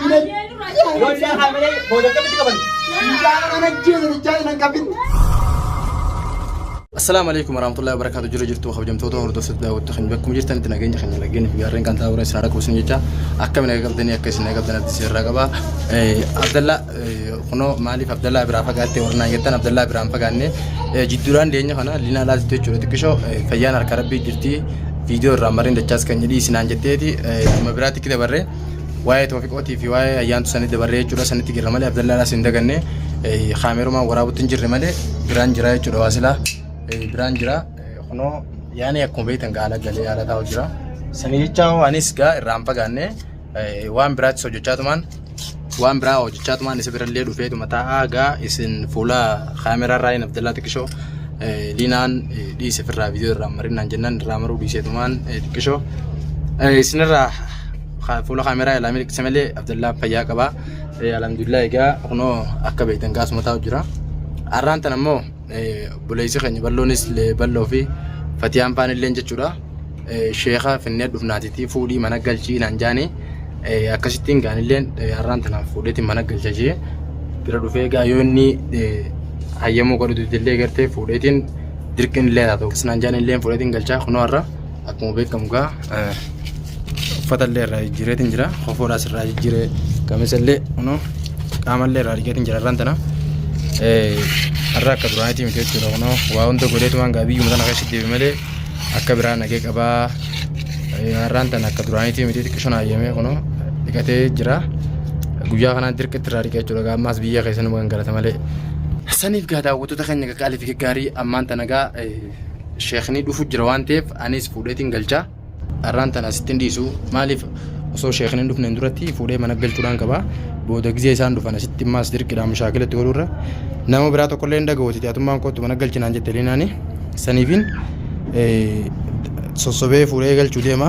Ijoollee haamilee booda akkamitti qaban? Mucaan nan ajjeesa jechaa nan qabin. Assalaamu alaikum warahmatullahi wabarakatuh jirra jirtu kabajamtoota hordoftoota daawwattu kan bakkuma jirtanitti nageenya keenya laggeen fi gaarreen kan taa'uura isin haadha kuusin jecha akkami naga qabdanii akka isin naga qabdan abdii seerraa qaba. Abdallaa kunoo maaliif Abdallaa biraa fagaattee warra naan jettan Abdallaa biraan fagaanne jidduudhaan deenya kana liinaa laatittu jechuudha xiqqishoo fayyaan harka rabbii jirti viidiyoo irraa marreen dachaas kan jedhii isinaan jetteeti dhimma biraatti dabarree. waa'ee Toofiqootii fi waa'ee ayyaantu sanii dabarree jechuudha sanitti jirra malee Abdallaadhaas hin daganne kaameerumaan waraabutti hin jirre malee biraan jira jechuudha waa silaa biraan jira kunoo yaani akkuma beektan gaala galee haala taa'u jira sanii jechaa hoo anis gaa irraan fagaanne waan biraattis hojjechaa tumaan waan biraa hojjechaa tumaan isa birallee dhufee tuma taa'aa gaa isin fuula kaameeraa irraa hin Abdallaa xiqqishoo liinaan dhiise firraa viidiyoo irraa marinaan jennaan irraa maruu dhiisee tumaan xiqqishoo isinirraa Ka- Fuula kaameraa ilaa miliqse malee Abdallaa fayyaa qaba. Eh, Alhamdulillah egaa kunoo akka beektan gaasuma taa'u jira. Har'aan tan ammoo eh, obboleessi keenya balloonis le- balloo fi fatiyaan faan illee jechuudha. Eh, Sheeka finnee dhufnaatiitii fuudhii mana galchii naan jaani. Eh, Akkasittiin gaanilleen eh, har'aan tanaaf fuudheetiin mana galcha jee bira dhufee egaa yoo inni eh, hayyamuu godhatu illee gartee fuudheetiin dirqiin illee haa ta'u. Naan jaani illee fuudheetiin galchaa kunoo har'a. akkuma beekamu gaa uffata illee irraa jijjiireetiin jira kofoodhaas irraa jijjiiree qamisa illee kunoo qaama illee irraa argeetiin jira irraan tana har'a akka duraaniitii miti jechuudha kunoo waa hunda godheetumaan gaa biyyuma tana keessatti deebi malee akka biraa nagee qabaa har'aan tana akka duraaniitii miti xiqqishoon hayyamee kunoo dhiqatee jira guyyaa kanaa dirqitti irraa dhiqee jechuudha gaa ammaas biyya keessanuma kan galata malee saniif gaa daawwattoota keenya gaggaalee fi gaggaarii ammaan tana gaa sheekni dhufu jira waan ta'eef anis fuudheetiin galcha har'aan tana asittiin dhiisu maaliif osoo sheekni hin dhufneen duratti fuudhee mana galchuudhaan qaba booda gizee isaan dhufan asitti immaas dirqidhaan mushaakilatti oolurra nama biraa tokkollee hin dhaga'uutiti atummaan kootu mana galchinaan jette linaani saniifiin sossobee fuudhee galchuu deema.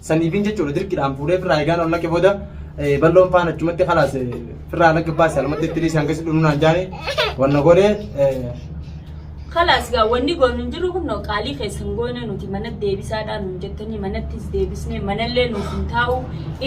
Saniifin jechuudha dirqidhaan fuudhee firraa eegaan ol naqe booda balloon faan achumatti kalaas firraa naqe baase alumatti itti dhiisee hanga sidhunu naan jaane wanna godhee Kalaas gaa wanni goonu hin jiru kunno qaalii keessan goone nuti mana deebisaadhaa nun jettanii manattis deebisnee manallee nuuf hin taa'u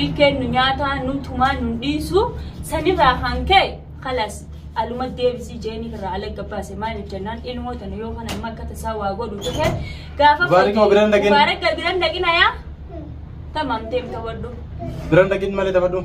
ilkeen nu nyaataa nu tumaa nun dhiisu sanirraa kan ka'e Kalas aluma deebisi jeeniif irraa alagga baase maaliif jennaan ilmoo tana yoo kana amma akka tasaa waa godhu tahe gaafa Mubaarak ma biran dhaqin? Mubaarak ga biran dhaqin ayaa tamam deem tawadhu Biran dhaqin malee taphadhu.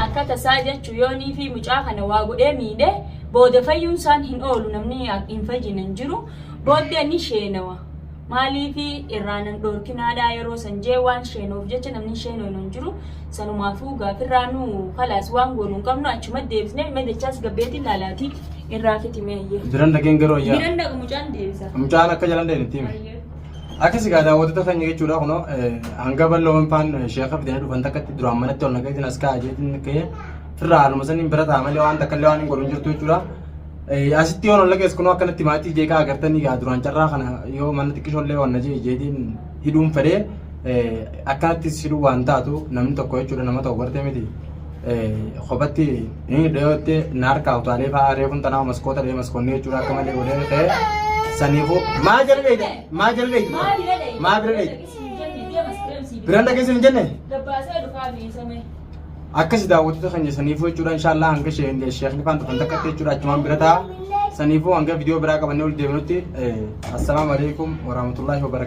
akka tasaa jechu yoonii fi mucaa kana waa godhee miidhe booda fayyuun isaan hin oolu namni hin fayyine hin jiru booddee ni sheenawa Maaliif irraa nan dhoorkinaadhaa yeroo san jee waan sheenoof jecha namni hin sheenoynu hin jiru. Sanumaafuu gaafirraa nu kalaas waan goonu hin qabnu achuma deebisne mee dachaas gabbeetiin laalaatii irraa fixi mee iyyee. Biran dhageen garuu ayyaa. Biran dhaqa mucaan deebisa. Mucaan akka jalan deebitti himi. Ayyee. Akkas egaa daawwattoota keenya jechuudha kunoo eh, hanga bal'oo hinfaan sheeka fidanii dhufan takkatti duraan manatti ol nagatiin as kaa'aa jeetiin ka'ee firraa haaluma saniin bira ta'a malee waan takka illee waan hin godhu hin jirtu jechuudha. Asitti yoon ol dhageessu kunoo akkanatti maatii jeeqaa agartanii gaa duraan carraa kana yoo manni xiqqishoon illee waan na jee jeetiin hidhuun fedhee akkanattis hidhuu waan taatu namni tokko jechuudha nama tokko gartee miti kophatti ni dhiyootte na harkaa utaalee fa'aa reefuun tanaa maskoota dhee maskoonni jechuudha akka malee godhee ta'e saniifu maa jala dheeyte maa jala dheeyte maa bira dheeyte biraan dhageessin hin jenne Dabbaasee dhufaa miisamee. akkasi daawwattoota keenya saniifuu jechuudha inshaallah hanga sheekni faan dhufan takkatti jechuudha achumaan bira ta'a saniifuu hanga viidiyoo biraa qabannee ol deebinutti assalaamu alaikum warahmatullaahi wabarakatuh